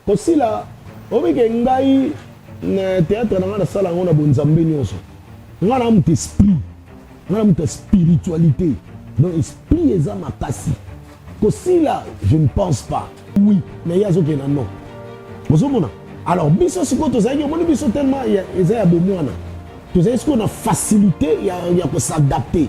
kosila oyebi ke ngai na théâtre na ngai nasala yango na bonzambe nyonso ngai na moto esprit ngai na moto ya spiritualité donc esprit eza makasi kosila je ne pense pas oui mais ye azokende na non ozomona alors biso sikoyo tozalaki omoni biso tellement eza ya bomwana tozali sikoyo na facilité ya, ya kosadapte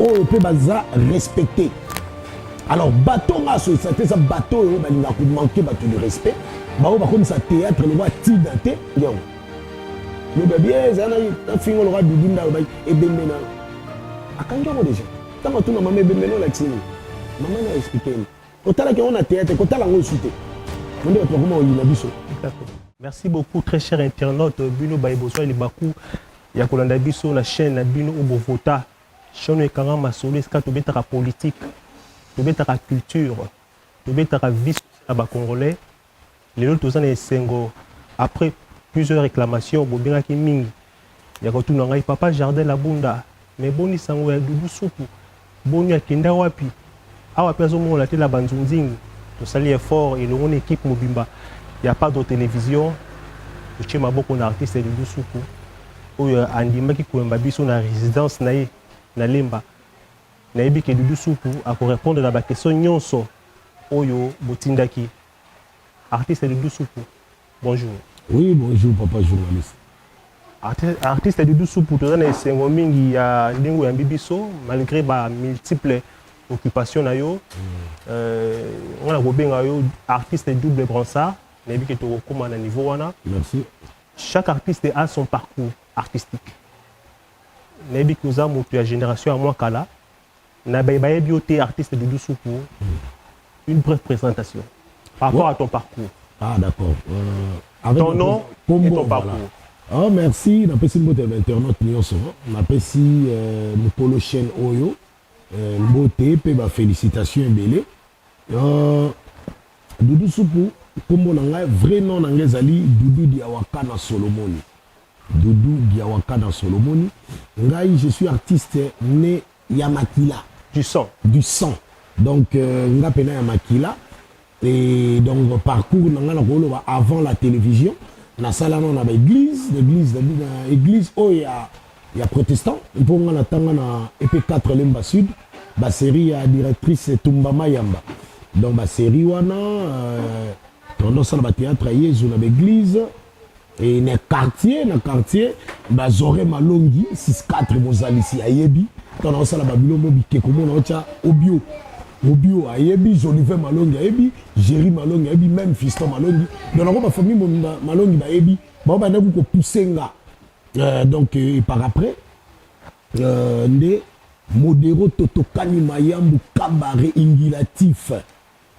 oyo mpe baza respecte alors bato nga asoyisa te eza bato oyo balingaka komanke bato de respect baoyo bakomisa théâtre lokola tida te yango loba bie eza na fingo lokola bibi nda alobaki ebembe na akangi yango deja ntango atuna mama ebembe na olakisi nini mama na explike ni otalaki yango na théâtre kotala yango esu te onde bato bakoma oyina biso merci beaucoup très cher internaute bino baye bozwa libaku ya kolanda biso na chaine na bino obo vota chaine oyo ekanga masolo esika tobetaka politique tobetaka culture tobetaka vie sociale ya bacongolais lelo toza na esengo après plusieurs réclamations bobengaki mingi ya kotuna ngai papa jardin labunda mais boni sango ya doudou supu Boni akenda wapi? Awa pe azo monana te na ba nzunzing. Tosali effort elongo na equipe mobimba ya Padro Television totie maboko na artiste Doudou Suku oyo andimaki koyamba biso na residence na ye na Lemba. Nayebi ke Doudou Suku ako repondre na ba questions nionso oyo botindaki artiste Doudou Suku. Bonjour. Oui bonjour papa journaliste. Artiste Doudou Soupou toza na esengo mingi ya ndenge oyambi biso malgré ba multiples occupation na yo mm. euh, nga na kobenga yo artiste double bransard nayebi ke tokokóma na niveau wana merci chaque artiste a son parcours artistique nayebi ke oza moto ya génération ya mwa kala Na baye bayebi yo te artiste Doudou Soupu une brève présentation par rapport à ton parcours. Ah d'accord. Euh, avec ton nom et ton parcours. Voilà. Oh, merci napesi mbote ya bainternaute nyonso napesi euh, mokolo chaîne oyo euh, mbote mpe bafélicitation ebele euh, dudu supu nkombo na ngai vrai nom na ngai ezali dudu diawakana solomoni Doudou Diawakana solo omoni ngai je suis artiste ne ya makila du sang du sang donc nga pena ya makila et donc parcours na nga na koloba avant la television na sala na na ba eglise na eglise na eglise oyo ya ya protestant mpo nga na tanga na EP 4 Lemba Sud ba serie ya directrice Tumba Mayamba donc ba serie wana euh, tondo sala ba theatre ya Yezu na ba eglise e na quartier na quartier bazore malongi 64 mozalisi ayebi ntango naosala babiloko bikeko mona otya obio obio ayebi jolive malongi ayebi géri malongi ayebi meme fiston malongi donc nako bafamille mobimba malongi bayebi bango bandaki kopuse nga euh, donc euh, et par après euh, nde modero totokani mayambu kabare ingulatif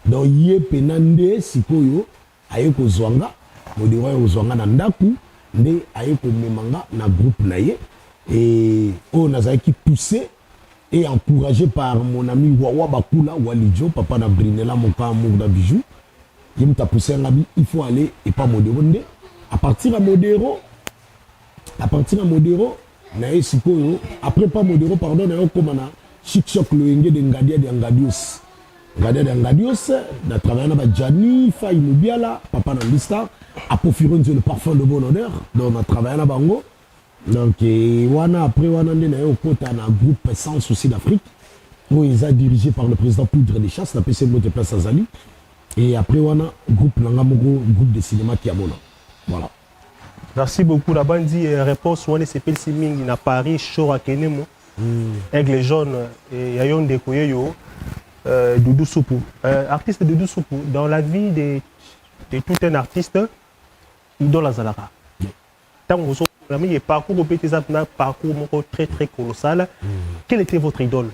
donc ye mpena nde sikoyo Aye kozua nga, modero aye kozua nga na ndaku nde aye komema nga na groupe na ye et oyo nazalaki pousser et encourager par mon ami Wawa Bakula, Wally Djo, papa na Brinella mon cas amour na Bijoux, ye mutu a pousser nga bi il faut aller epa modero nde à partir ya modero. A partir na modero naye sikoyo après pa modero pardon naye okoma na chic choc loyenge de ngadia dia ngadios ngadia dia ngadios na travailler na ba jani fai mubiala papa na lista apofironzi le parfum de bon odeur donc na travailler na bango donc eh, wana après wana nde naye okota na groupe sans souci d'afrique oyo eza dirigé par le président poudre de chasse napesi ye mbote place azali et après wana groupe na nga moko groupe de cinéma kiamona voilà Merci beaucoup na bandi eh, réponse wana esepelisi mingi na Paris Shore Akenemo mm. Aigle jaune eh, ya yo ndeko ye yo euh, Doudou Soupou euh, artiste Doudou Soupou dans la vie de, de tout un artiste idole azalaka ntango ozokola mingi parcours ope te eza na parcours moko très très colossal mm. quel était votre idole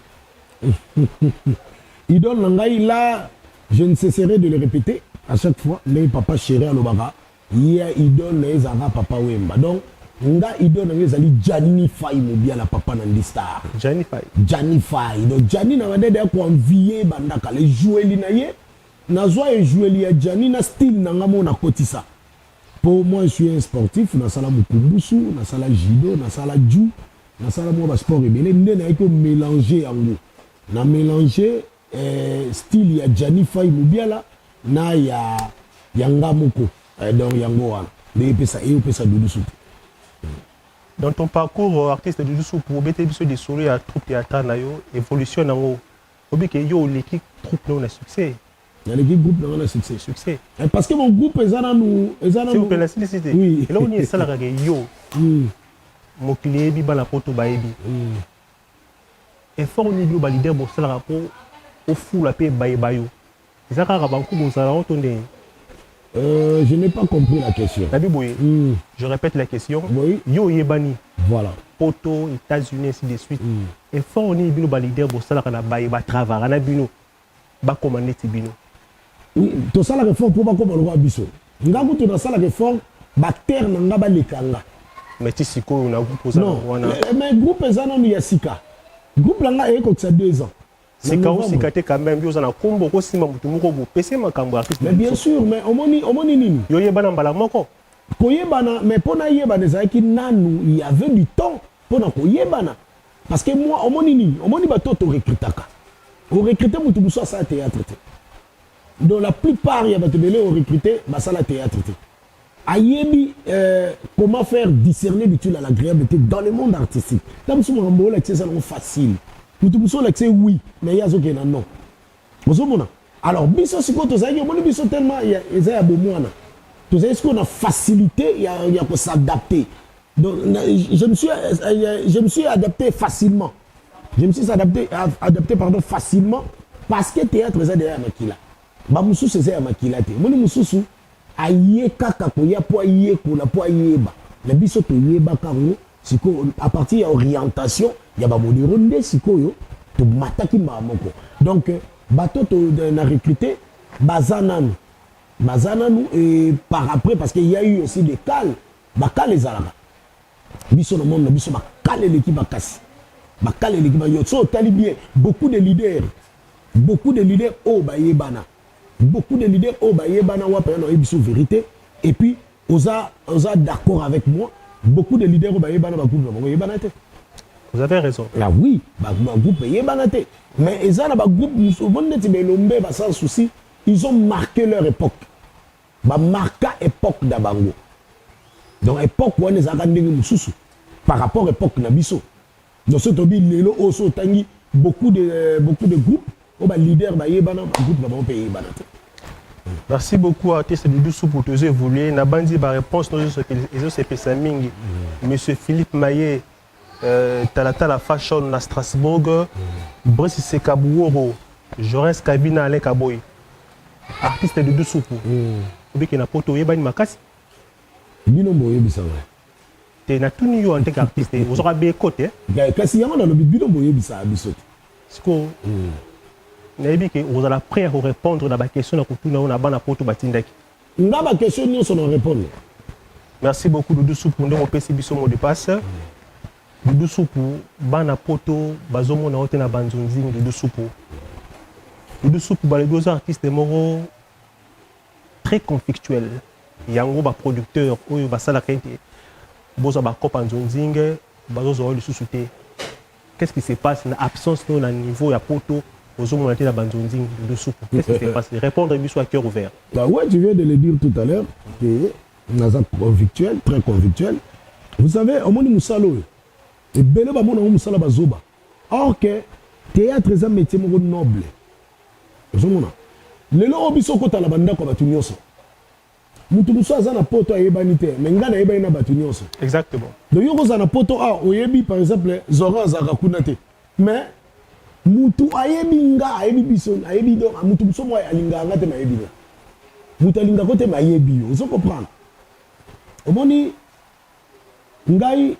idole na ngai là je ne cesserai de le répéter à chaque fois ndenge papa chéri alobaka Yea idole naye ezalaka papa wemba donc nga idole na nga ezali djanny fayi mubiala papa na ndi star Djani Faye. djanny fayi donc djanny na banda deya ko envie banda kala ejueli na ye nazwa ejueli ya djanny na style na nga moko na kotisa po moi je suis un sportif nasala mukumbusu nasala judo nasala ju nasala mwa ba sport ebele nde nayaki ko melanger yango na melanger Eh, style ya Gianni Fay Mubiala na ya ya nga moko eh, donc yango wana nde epesa eyopesa Doudou Soupu. Dans ton parcours euh, artiste Doudou Soupu obeteli biso lisolo ya troupe théâtrale na yo évolution nango obi ke yo oleki troupe na yo na succès naleki groupe na nga na succès succès Eh, parce que mon groupe eza nanu eza s'il vous plaît nanu nasilisi te Oui. eloko nini esalaka ke yo Hmm, mokili eyebi bana poto bayebi hmm. Effort nini bino ba leader bosalaka po ofula pe bayeba yo? Eza kaka banku bozala yango to ndenge? Euh, je n'ai pas compris la question. Nabi boye, mm. je repète la question. Oui. Yo oyebani. Voilà. Poto, États-Unis, ainsi de suite. Mm. Effort nini bino ba leader bosalaka na baye ba travaillaka na bino? bakoma neti bino. Tosalaka effort po bakoma lokola biso. Nga kutu nasalaka effort ba acteurs na nga baleka nga. Mais ti sikoyo na groupe oza na wana. Eh, eh, mais groupe eza nanu ya sika. Groupe na nga ekokisa 2 ans. sika osika te quand même yo oza na kombo okosimba motu moko bopese makambo ya artiste mais bien sûr mais omoni omoni nini yo yebana mbala moko koyebana mais mpo nayebana ezalaki nanu il y avait du temps mpo na koyebana Parce que moi, omoni nini? Omoni bato oyo torecrutaka. Orecrute moto mosusu asala théâtre te. Donc la plupart ya bato ebele orecrute basala théâtre te. Ayebi euh, comment faire discerner l'utile à l'agréable te dans le monde artistique. Ntango mosusu makambo olakisa eza nango facile. Moto mosusu olakisa ye oui, mais ye azokende na non. Ozo mona? Alors biso sikoyo tozalaki omoni biso tellement eza ya bomwana tozali sikoyo na facilité ya, ya ko s'adapter donc je me suis, euh, je me suis adapté facilement je me suis adapté, adapté pardon, facilement parce que théâtre eza deya ya makila bamosusu eza ya makila te omoni mosusu Aye kaka koya po ayekola po ayeba mais biso toyebaka yango sikoyo a partir ya orientation ya ba modero nde sikoyo tomataki mbala moko donc bato to na recruter baza nanu baza nanu et par après parce que il y a eu aussi des cales ba cales ezalaka biso na monde na biso ba cales eleki makasi ba cales eleki ba yo so otali bien beaucoup de leaders beaucoup de leaders oyo bayebana Beaucoup de leaders oyo ba yebana wapi nanu ayebi biso verite et puis oza oza d'accord avec moi beaucoup de leaders oyo ba yebana ba groupe na bango eyebana te Vous avez raison. Ah oui, ba, ba groupe eyebana te. Mais eza na ba groupe mususu bon neti ba elombe ba sans souci, ils ont marqué leur époque. Ba marqua époque da bango. Donc époque wana ezalaka ndenge mususu par rapport époque na biso. Donc soki tolobi lelo oyo soki otangi beaucoup de, euh, beaucoup de groupes oyo ba leaders bayebana ba groupe na bango mpe eyebana te Merci beaucoup artiste Doudou Soupu tozo évoluer na bandi ba réponse no ezo sepesa mingi mm. monsieur Philippe Maye euh, Talatala Fashion na Strasbourg mm. Brice Sekabuoro Jorens Kabina Alain Kaboy artiste Doudou Soupu mm. obiki na poto oyebani makasi bino boyebisa ngai te na tuni yo en tant qu'artiste ozwaka be ko te eh, kasi yango nalobi bino boyebisaka biso te sikoyo hmm. nayebi ke ozala prêt ya korépondre na baquestion na kotuna yo na bana poto batindaki nga baquestion nyonso na répondre merci beaucoup dudu supu ndenge opesi biso mot de passe dudu supu bana poto bazomona yo te na banzonzing dudu supu dudu supu balobi oza artiste moko très conflictuel yango ba producteur oyo basalaka ete bozwa ba copa nzonzinge bazozwa yo lisusu te qu'est-ce qui se passe na absence no na niveau ya poto ozomona te na banzonzi lusuku qu'est-ce qui se passe répondre biso à cœur ouvert bah ouais tu viens de le dire tout à l'heure que naza convictuel très convictuel vous savez omoni mosala oyo ebele bamonango mosala bazoba Or que theatre eza metier moko noble. Ozomona? Lelo oyo biso okota na bandako ya bato nyonso. Mutu mosusu aza na poto ayebani te, mais ngai nayebani na bato nyonso. Exactement. Donc yo kozala na poto awa ah, oyebi par exemple Zoran azalaka kuna te. Mais mutu ayebi nga ayebi biso ayebi donc mutu mosusu moko alingaka nga te mayebi nga. Mutu alingaka ko te mayebi yo. Ozo comprendre? Omoni ngai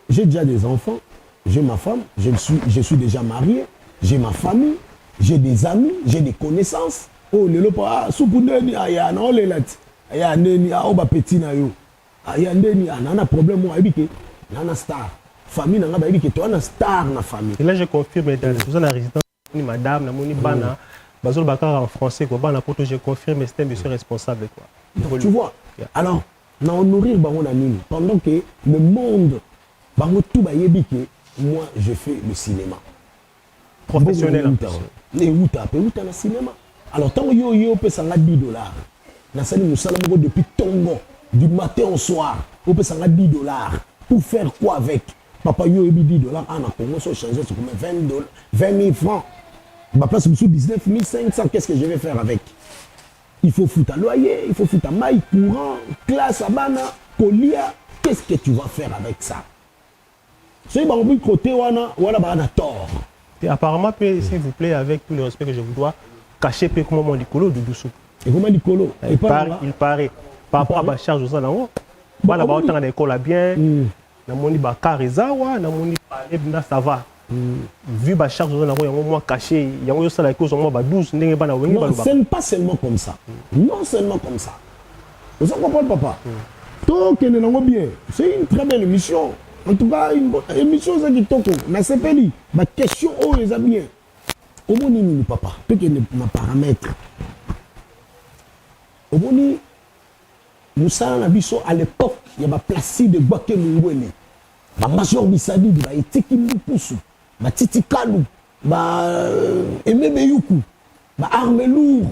J'ai dejà des enfants, j'ai ma femme, je ne suis je suis dejà marie, j'ai ma famille, j'ai des amis, j'ai des connaissances. Oyo lelo pa ah, supu ndeni ah, ya na olela ti ah, ya ndeni ah, o ba petit na yo ah, ya ndeni ah, na na problème oyo ayebi ke na na star famille na nga bayebi ke to na star na famille. Et là je confirme dans mm. résidence ni madame na moni bana mm. bazoloba kaka en français quoi bana poto je confirme c'est un monsieur responsable quoi Donc, tu vois yeah. alors na honorir bango na nini pendant que le monde bango tout bayebi que moi je fais le cinéma professionnel euta mpe euta na cinéma alors ntango yo yo opesa nga 10 dollars nasali mosala moko depuis tongo du matin au soir opesa nga 10 dollars pour faire quoi avec Papa yo oyebi 10 dollars a na Congo so changer ce combien 20 dollars 20 000 francs. Ba place bisous 19 500 qu'est-ce que je vais faire avec Il faut foutre à loyer, il faut foutre à maille, courant, classe à bana, colia. Qu'est-ce que tu vas faire avec ça soki bangobi kote wana wana baa na tort et apparemment mpe s'il vous plaît avec tout le respect que je vous dois cache mpe ekoma mwa likolo dudusu ekoma likolo il paraît par rapport à bacharge oza nango bana baotanga na ekola bien mm. namoni ba car eza awa namoni palais bna ça va vu ba charge oza nango yango mwa cache yango ezosala eke ozwa mwa ba 12 ndenge bana wenge balobaka ce n'est pas seulement comme ça non seulement comme ça oza comprendre papa tokende nango bien c'est une très belle émission en tout cas émission eza kitoko nasepeli ba question oyo eza bien omoni nini papa tokende na paramètre omoni Musala na biso à l'epoque ya ba Placide Gbake Mungwele, ba Major Bisadidi, ba Etiki Mbukusu, ba Titi Kalu, ba euh, Aime Beyuku, ba Arme Lourd,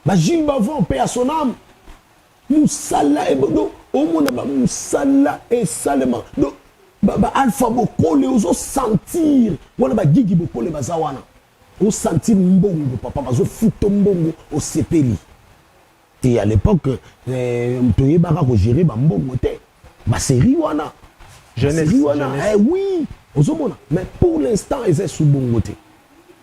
ba Gilles Bavon, paix à son âme. Musala ebodo omona ba musala esalema donc ba, ba Alpha Bokole ozo sentir wana ba Gigi Bokole baza wana. Osentir mbongo papa bazo futo mbongo osepeli. Et à l'epoque euh, toyebaka ko gérer ba mbongo te. Ba série wana. Jeunesse, série wana. Jeunesse. Eh oui, ozomona. Mais pour l'instant eza sous bongo te.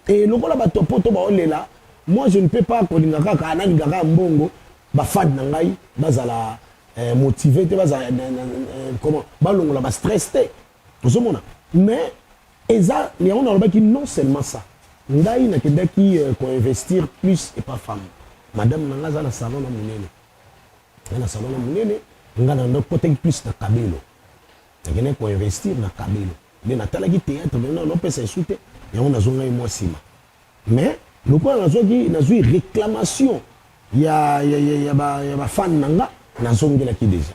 Et lokola ba topoto ba olela, moi je ne peux pas kolinga kaka ah, nalinga kaka mbongo ba fan na ngai bazala eh, motivé te bazala eh, eh, comment balongola ba stress te. Ozomona. Mais Eza yango nalobaki non seulement ça ngai nakendaki ko investir plus epa femme madame na ngai aza na salon na munene aza na salon na munene ngai na ndo kotaki plus na kabelo nakendaki ko investir na kabelo nde natalaki theatre mais nao napesa esu te yango nazwa ngai mwa nsima mais lokola nazwaki nazwi réclamation ya, ya, ya, ya, ba, ya bafane na nga nazongelaki deja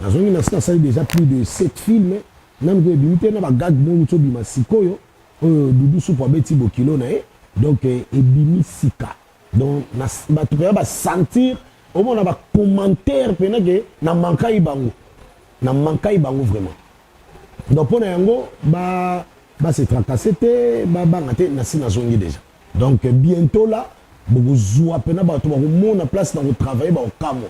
Nazongi nasi nasali dejà plus de sept films nanu pe ebimi te na ba gag moko mutu obima sikoyo oyo doudou supu abeti bokilo na ye donc ebimi sika donc na batu penza ba sentir omona ba commentaires penza ke na manquaki bango na manquaki bango vraiment donc pona yango ba ba se tracasser te ba banga te nasi nazongi dejà donc bientôt là bokozua penza batu bakomona place na ko travailler bakokamwa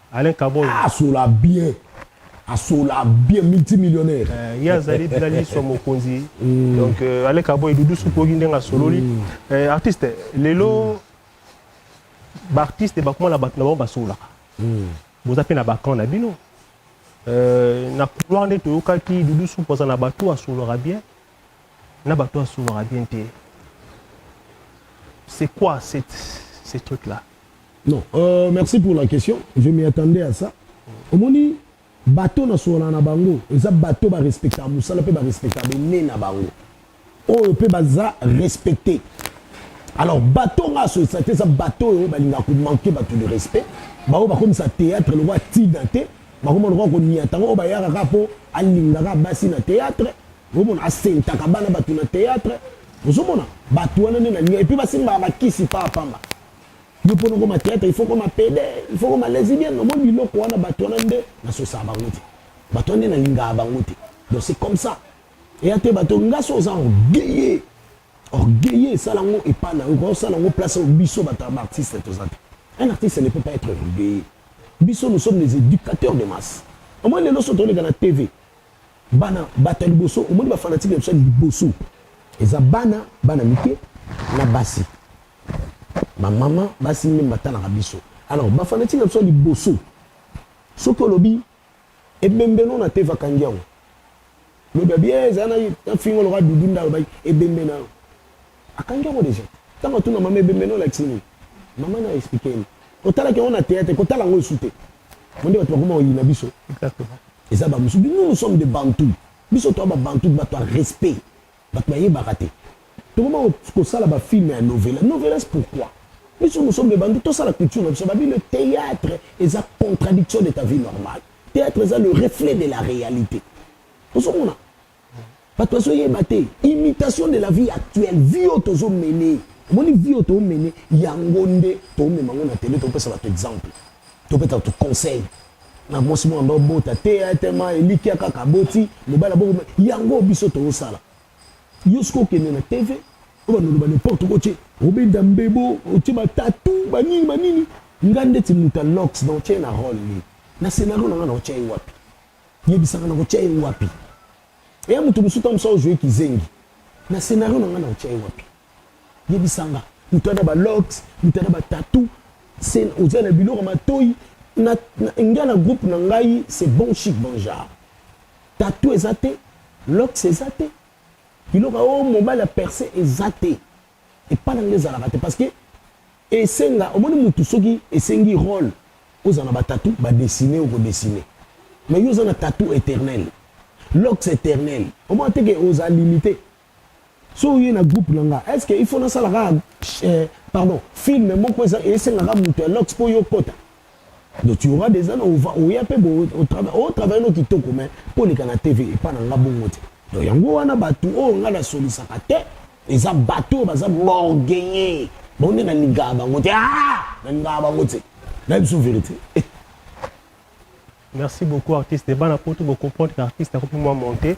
Alain Kabongo. Ah, asola bien. Asola bien multimillionnaire. Euh, ye azali bila liswa mokonzi. Mm. Donc euh, Alain Kabongo Doudou Sukogi ndenge asololi. Mm. Euh, artiste lelo mm. ba artiste bakoma na bato na bango basololaka. Mm. Boza pe na ba camp na bino. Euh, na couloir nde toyokaki Doudou Sukogi aza na bato asololaka bien. na bato oyo asungaka bien te c'est quoi cette, ce truc là non euh, merci pour la question je m'y attendais à ça omoni bato nasolola na bango eza bato barespectaka mosala mpe barespectaka bene na bango oyo mpe baza respecte alors bato nga asolisa te eza bato oyo balingaka komanke bato de respect baoyo bakomisa théâtre lokola tida te bakoma lokola koniatanga oyo bayaka kaka mpo alingaka basi na théâtre Bomona asentaka bana batu na théâtre. Ozomona batu wana nde na linga et puis basimbaka bakisi pa pamba. Yo pona ko ma théâtre il faut ko ma pede, il faut ko ma lesbienne, no moni biloko wana batu wana nde na sosa bango te. Batu wana nde na linga bango te. Donc c'est comme ça. Et ate batu ngaso oza orgueilleux. Orgueilleux sala ngo epa na yo, ko sala ngo place au biso batu ba artiste toza te. Un artiste ne peut pas être orgueilleux. Biso nous sommes les éducateurs de masse. Au moins les loso toleka na TV. Bana bato ya liboso omoni ba fanatique na biso ya liboso eza bana bana mike na basi ba mama basi nde batalaka biso alors ba fanatique na biso ya liboso soki olobi ebembe no na te vakangi yango lobi abi eh, eza na fingo loka dudu nda alobaki ebembe na yo akangi yango deja ntango atuna mama ebembe no olakisi nini mama na explike ye otalaki yango na théâtre kotala yango esu te bonde bato bakoma oyina biso eza bamosu bino nous sommes de bantu biso toa babantu bato ya respect bato bayebaka te tokoma kosala bafilme ya novela novelas pourquoi biso nous sommes de bantu tosala culture na biso babi le théâtre eza contradiction de ta vie normale théâtre eza le reflet de la réalité ozomona bato bazoyeba te imitation de la vie actuelle vie oyo tozo mene omoni vie oyo toomene yango nde toomema ngo na tele topesa bato exemple topesa bato conseil na mwasi mwana babota te etema elikya kaka aboti mobali aboko yango biso toosala yo soki okende na tv oyo banaloba n'importe ko tie obenda mbebo otie batatu banini banini nga ndeti moto ya lox na otye na role nini na scénario na nga na otya ye wapi yebisa nga nakotia ye wapi eya moto mosusu ntango mosusu ojue kizengi na scenario na ngai nakotia ye wapi yebisa nga moto ana balox moto ana batatu oza na biloko matoi nga na groupe na ngai c'est bon chic bonjar tatu eza te lox eza te biloko o oh, mobali ya perse eza te epai na ngai ezalaka te parce que Esenga omoni mutu soki esengi role ozala na ba tatou ba dessine oko dessine mais yo oza na tatou eternel locks eternel omona te ke oza limite so oye na groupe na nga est ce que il faut nasala ka eh, pardon film moko eza esenga ka mutu ya locks po yo kota donc tu auras des années ova oya pe bo au travail au travail no kitoko mais poleka na TV epa na nga bongo te donc yango wana batu oyo nga na solisaka te eza bato oyo baza borgeye bango nde nalingaka bango te ah! nalingaka bango te nayebi biso verité eh. merci beaucoup artiste bana poto bocomprendre ke artiste akoki mwa monte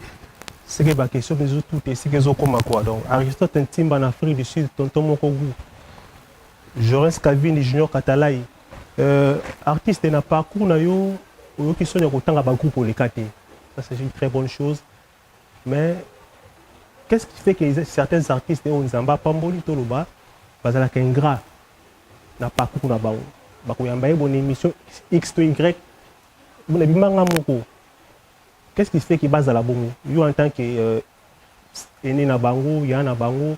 seke baquestion mpe ezotute esika ezokoma kua donc aristote ntimba na afrique du sud tonton moko gu jorens cavini junior katalai euh, artiste na parcours na yo oyoki soni ya kotanga bagroupe oleka te ça c'est une très bonne chose Mais qu'est-ce qui fait que certains artistes oyo Nzambe apamboli toloba bazalaka ingrat na parcours na bango bakoyamba ye bon émission x to y bona bimanga moko qu'est-ce qui fait que bazala bongo yo en tant que euh, aîné na bango ya na bango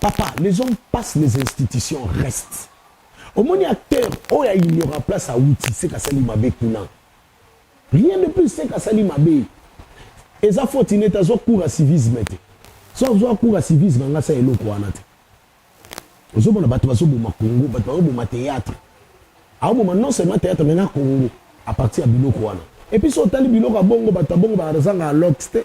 Papa les hommes passent les institutions restent omoni acteur oyo ya ignorant place awuti seke asali mabe kuna rien de plus seke asali mabe eza foti nete azwa cours ya civisme te so azwa cours ya civisme anga sa eloko wana te ozomona bato bazoboma congo bato bazoboma théâtre aoboma non seulement théâtre mais na congo à partir ya biloko wana epuis so otali biloko ya bongo bato ya bongo bazanga alox te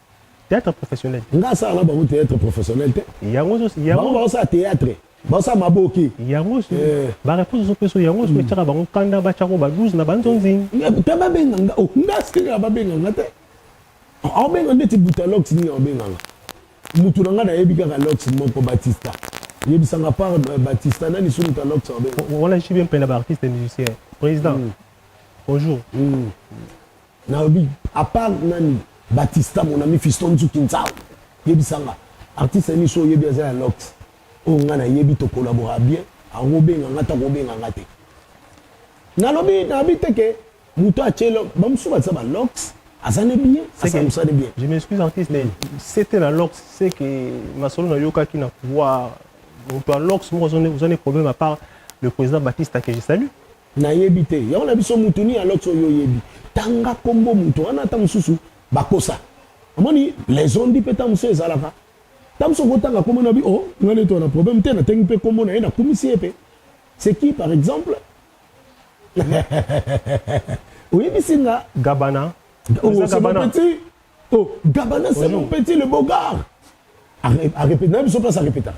Théâtre professionnel. Nga asala na bango théâtre professionnel te. Yango zo yango bango basala théâtre. Basala maboki. Yango so eh. ba réponse zo peso yango so hmm. tchaka bango kanda ba tchako ba 12 na banzo nzing. Te ba benga nga o oh, nga sika ba benga nga te. Au benga ndeti buta lox ni au benga nga. Mutu na nga na yebi kaka lox moko Batista. Yebisa nga par euh, Batista nani sunu ta lox au benga. Wala je suis bien pena ba artiste musicien. Président. Mm. Bonjour. Mm. Nalobi a part nani batista mon ami fiston nzuki nzau yebisa nga artiste nini so oyebi aza ya lox oyo nga na yebi to collabora bien akoki obenga nga to akoki obenga nga te nalobi nalobi te ke moto atie bamosusu baza ba lox aza ne bien asala mosala ne bien je m'excuse artiste mais c'était la lox c'est que masolo nayokaki na pouvoir moto ya lox moko oza ne problème à part le président batista que je salue Nayebi te yango na biso mutu ni alox oyo oyebi tanga kombo mutu wana ata mosusu bakosa amoni les ondi mpe ta mosusu ezalaka ta mosusu okotanga kombo na bi o oh, ngai neti wana problème te natengi mpe kombo na ye nakumisi ye mpe c'est qui par exemple oyebisi nga gabana oh, c'est mon petit oh gabana c'est mon petit le beau gars arepete na biso place arepetaka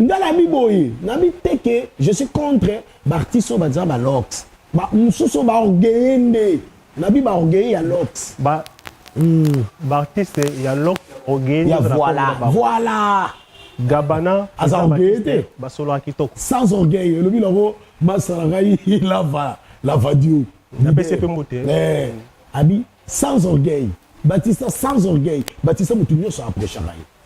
nga na bi boye na bi teke je suis contre ba artistes oyo baza ba lox ba mosusu oyo ba orgueilleux nde na bi ba orgueilleux ya lox ba mm. ba artistes ya lox orgueilleux ya voilà voilà gabana aza orgueilleux te basolo kitoko sans orgueil elobi nango masala ngai lava lava dio napesi mpe mbote eh, abi sans orgueil batista sans orgueil batista motu nyonso aprochaka ye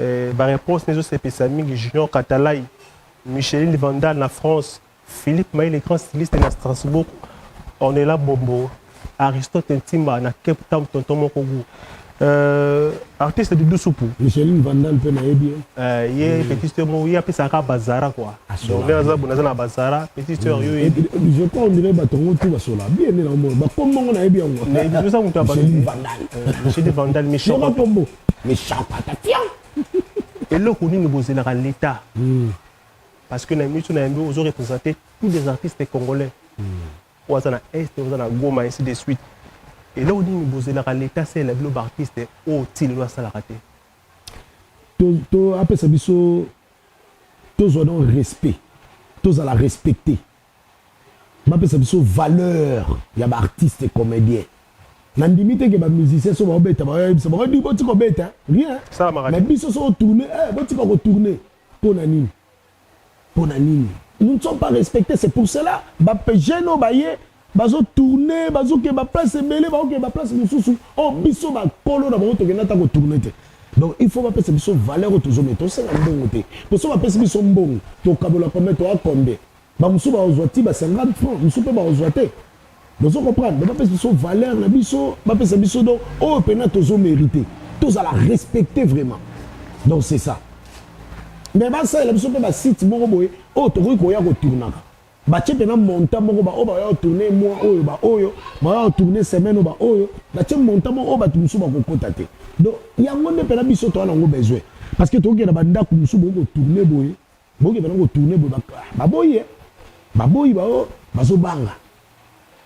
Eh ba reponse nezo sepisa mingi junior katalay, Micheline vandal na France, Philippe mayi le grand styliste na Strasbourg, Ornella bombo, Aristote ntimba na cape town tonton moko gout euh artiste doudou supu. Micheline vandal pe nayebi ye. Eh ye mm. petit sœur mo ye apesa ka bazara quoi. Donc vers zabu naza na bazara petit sœur mm. yo ye. Je crois on dirait batongo tout basola bien na mo ba kombo ngo nayebi yango. Mais biso mutu abandi. Micheline vandal. Micheline vandal Michel. Yo kombo. Méchant patatian. eloko nini bozelaka l'etat parce que na émission na yambi ozo représenter tous les artistes congolais oyo aza na est oyo aza na goma ainsi de suite eloko nini bozelaka l'etat asalela bino baartiste oyo ti lelo asalaka te To- to- apesa biso tozwa donc respect tozala respecte Bapesa biso valeur ya ba artistes comediens. Na ndimi te que ba musiciens so bao beta bao yebisa bango di botika obeta rien. Mais biso so tourner eh botika ko tourner. Pona nini? Pona nini? Nous ne sommes pas respectés c'est pour cela ba jeunes oyo baye bazo tourner bazo ke ba place ebele bao ke ba place mosusu oh biso ba kolo na bango tokenda ta ko tourner te. donc il faut bapesa biso valeur oyo tozomete tosenga mbongo te mpo so bapesi biso mbongo tokabola kombe toakombe Ba mususu ba kozwa ti ba 50 francs, mususu pe ba kozwa te. Bozo comprendre? Donc ba pesa biso valeur na biso, ba pesa biso donc oyo pena tozo meriter. Tozala respecter vraiment. Donc c'est ça. Mais ba salela biso pe ba sites moko boye oyo tokoki koya ko tournaka. Batie pena montant moko ba oyo ba oya tourner mois oyo ba oyo, ba oya tourner semaine oyo ba oyo, batie montant moko oyo batu mususu bakokota te. Donc yango nde pena biso toza nango besoin. Parce que tokokende na ba ndaku mususu boye ko tourner boye Boke bana ko tourner boye ba boyi eh ba boyi ba oh bazo banga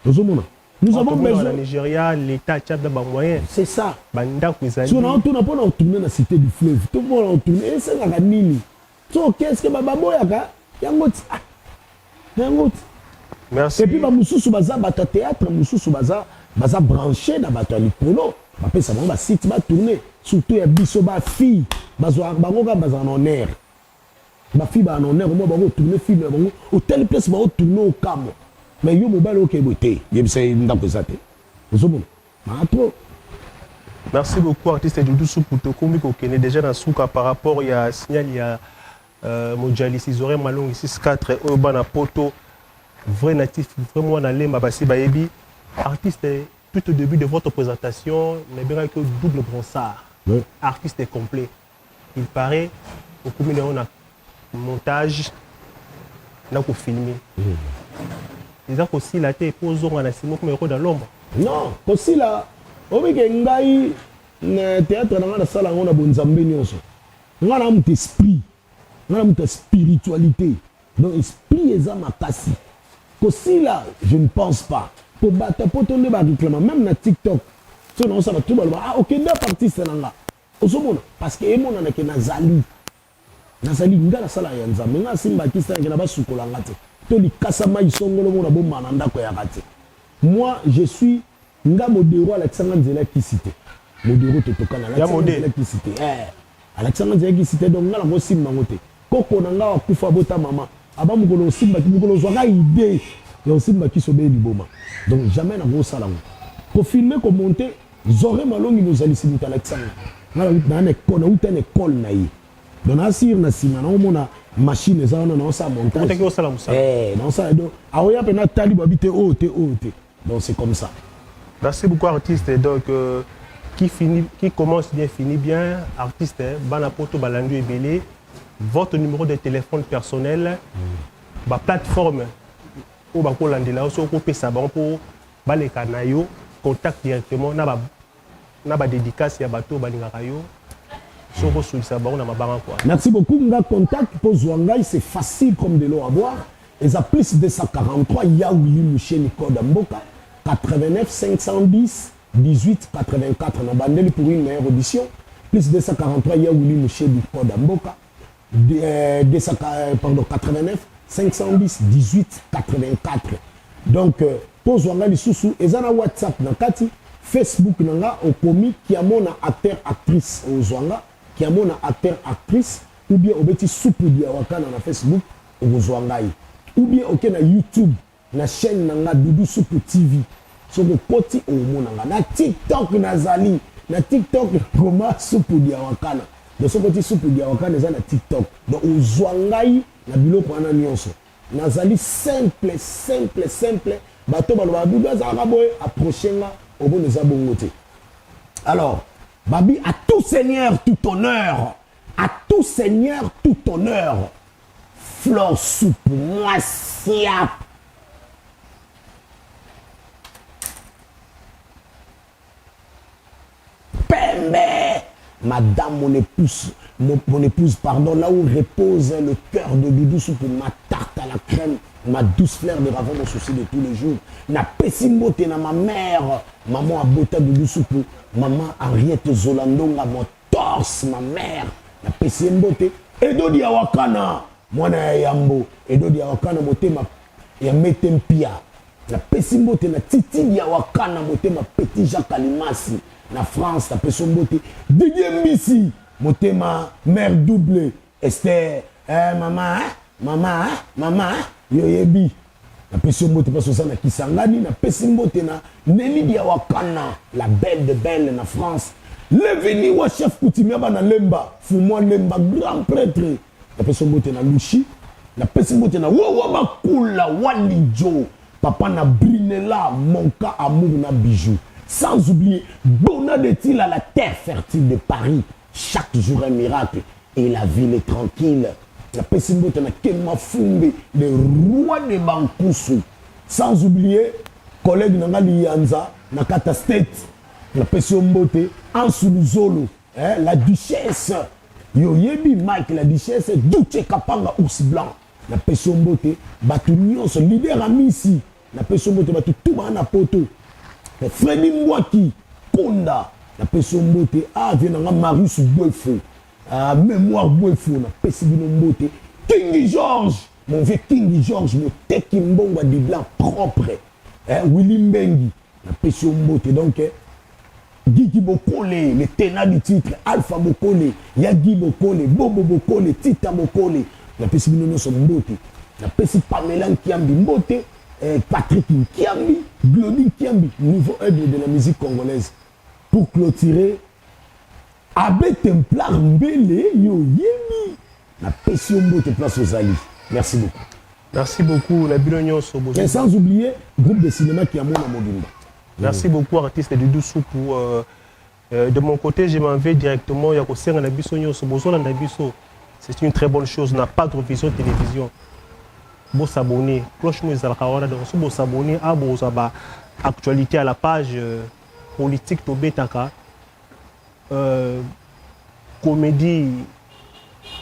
ozo mona nous avons besoin na Nigeria l'état tient ba moyens c'est ça ba ndaku ezali so na tuna pona tourner na cité du fleuve to pona tourner esengaka nini so qu'est-ce que ba baboyaka yango ti ah yango ti merci et puis ba mususu baza bata théâtre mususu baza baza branché na bato ya likolo bapesa bango basite batourne surtout ya biso bafille bazwaka bango kaka bazala na honneur ba fille ba anonner comment bako tourner film na bango otali place bao tourner okamwa mais yo mobali oke boye te yebisa ye ndako eza te ozomona maa trop merci beaucoup artiste dudu supu tokomi kokende déjà na suka par rapport ya signal ya euh, mojalisi zorin malongi 64 oyo bana poto vrai natif vrai mwana lemba basi bayebi artiste tout au début de votre présentation nabengaki yo double bronsard oui. artiste complet il parait okomi nango na montage na kofilme eza kosila te mpo ozonga na nsima okoma ekoda lomba non kosila obike ngai na théâtre na ngai nasala yango na bonzambe nyonso ngai na moto esprit ngai na moto ya spiritualité donc esprit eza makasi kosila je ne pense pas mpo bato ya poto nde bareklama meme na tiktok so naosala tu baloba ah okenda okay, artiste na ngai Ozo mona parce que emonana ke nazali nazali nga nasala ya nzambe nga asimba kista nakenda basukola nga te to likasa mai songolo mona bomba na ndako ya rate moi je suis nga modero alakisa nga nzela kisi te modero totokana alakisa nga nzela kisi te eh alakisa nga nzela kisi te donc nga nakosimba ngo te Koko na nga akufa abota mama aba mukolo osimba mukolo ozwa ka idee ya osimba kisi obeli liboma donc jamais na ko sala ngo ko filme ko monte zore malongi mozalisi moto alakisa nga nga na na ko na uta na école na ye donc na sir na sima na omona machine eza wana na osala montage eh na osala do aoya pe na tali babite o oh, te o oh, te Donc c'est comme ça. Merci beaucoup artiste donc euh, qui finit qui commence bien finit bien artiste hein, bana poto balandi ebele votre numéro de téléphone personnel mm. ba plateforme oyo bakolandela yo soki okopesa bango mpo baleka na yo contact directement na ba na ba dedicace ya batu oyo balingaka yo soki okosulisa bango na mabanga kua. Merci beaucoup nga contact po zua ngai c'est facile comme de l'eau à boire eza plus 243 ya Willy Musheni code ya mboka 89 510 18 84 na bandeli pour une meilleure audition plus 243 ya Willy Musheni code ya mboka 200, euh, pardon, 89 510 18 84 donc euh, tozwa nga lisusu eza na whatsapp na kati facebook na nga okomi kiamona acteur actrice ozwa nga kiamona acteur actrice ou bien obeti supu diawakana na facebook okozwa ngai ou bien oke na youtube Na chaine na nga doudou supu TV soki okoti okomona nga na tik tok na zali na tik tok koma supu diawakana donc soki oti supu diawakana eza na tik tok donc ozua ngai na biloko wana nionso na zali simple simple simple bato balobaka doudou azalaka boye approche nga omona eza bongo te alors babi à tout seigneur tout honneur à tout seigneur tout honneur Flore supu mwasi ya. Pembe madame mon épouse mon, mon épouse pardon là où repose le cœur de Doudou supu ma tarte à la crème ma douce fleur de ravon mon souci de tous les jours na pesi mbote na ma mère maman abota Doudou supu maman Henriette Zolandonga mon Tors ma mère na pesi ye mbote Edo Diawakana mwana ya yambo Edo Diawakana motema ya mete mpia na pesi mbote na Titi Diawakana motema petit Jacques Alimasi na France na peso mbote Didier Mbisi motema mère double Esther eh mama eh mama eh mama eh yoyebi napesi yo mbote mposo oza na kisangani napesi mbote na nelidi ya wakana la belle de belle na france levini wa chef coutumier bana lemba fumwa lemba grand prêtre napesi yo mbote na lushi napesi mbote na wowa makula walijo papa na brinela monka amour na bijou sans oublier bona de tila la terre fertile de paris Chaque jour un miracle et la ville est tranquille. Napesi mbote na Ken Mafumbe, le roi de Bankusu. Sans oublier collègue na nga Liyanza na Kata State. Napesi yo mbote Ansu Luzolo, eh, la duchesse. Yo yebi Mike la duchesse, Duce Kapanga ours blanc. Napesi yo mbote bato nyonso, leader Amisi. Na pesi yo mbote batu tout bana poto. Freddy Mbwaki Konda na pesi yo mbote ah vie na nga Marius Bwefo ah memoire Bwefo na pesi bino mbote King George mon vieux King George moteki mbongo ya Dibla propre eh, Willy Mbengi Na pesi yo mbote donc Gigi Bokole, le tenant du titre, Alpha Bokole, Yagi Bokole, Bobo Bokole, Tita Bokole. Na pesi bino nyonso mbote. Na pesi Pamela Nkiambi mbote, eh, Patrick Nkiambi, Glody Nkiambi, nouveau aigle de la musique congolaise. Pour clôturer Abbe templar mbele yo oyebi na pesi yo mbote place ozali merci beaucoup merci beaucoup na bino nyonso et sans oublier groupe de cinéma qui amona mobimba merci mm. beaucoup artiste du doussou pour euh, euh, de mon côté je m'en vais directement ya kosenga na biso nyonso bozolanda biso c'est une très bonne chose na pas vision télévision bosabonne cloche mo ezalaka wana donc so bosabonne abozwa ah, ba actualité à la page euh, politique tobetaka euh, comedie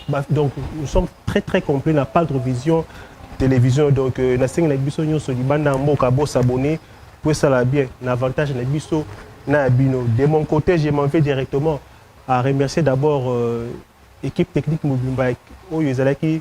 bah, donc nous sommes très très complet na padre vision télévision donc euh, nasengi na biso nyonso libanda ya mboka bosabone po esala bien na avantage na biso na ya bino de mon côté je m'en vais directement à remercier d'abord euh, équipe technique mobimba oyo ezalaki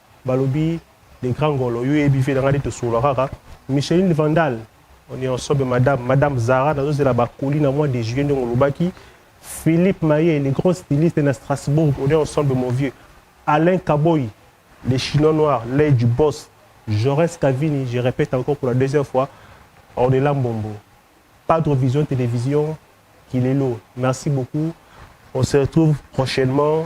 Balobi le grand ngolo yo oyebi vie na ngai nde tosolola kaka Micheline Vandal onionsobe madame madame Zara nazozela ba colis na mois de juillet ndenge olobaki Philippe Maye le grand styliste na Strasbourg onionsobe mon vieux Alain Kaboyi le chinois noir l'oeil du boss Jaurès Kavini je repète encore pour la deuxième fois Ornella Mbombo Padre Vision Television Kilelo merci beaucoup on se retrouve prochainement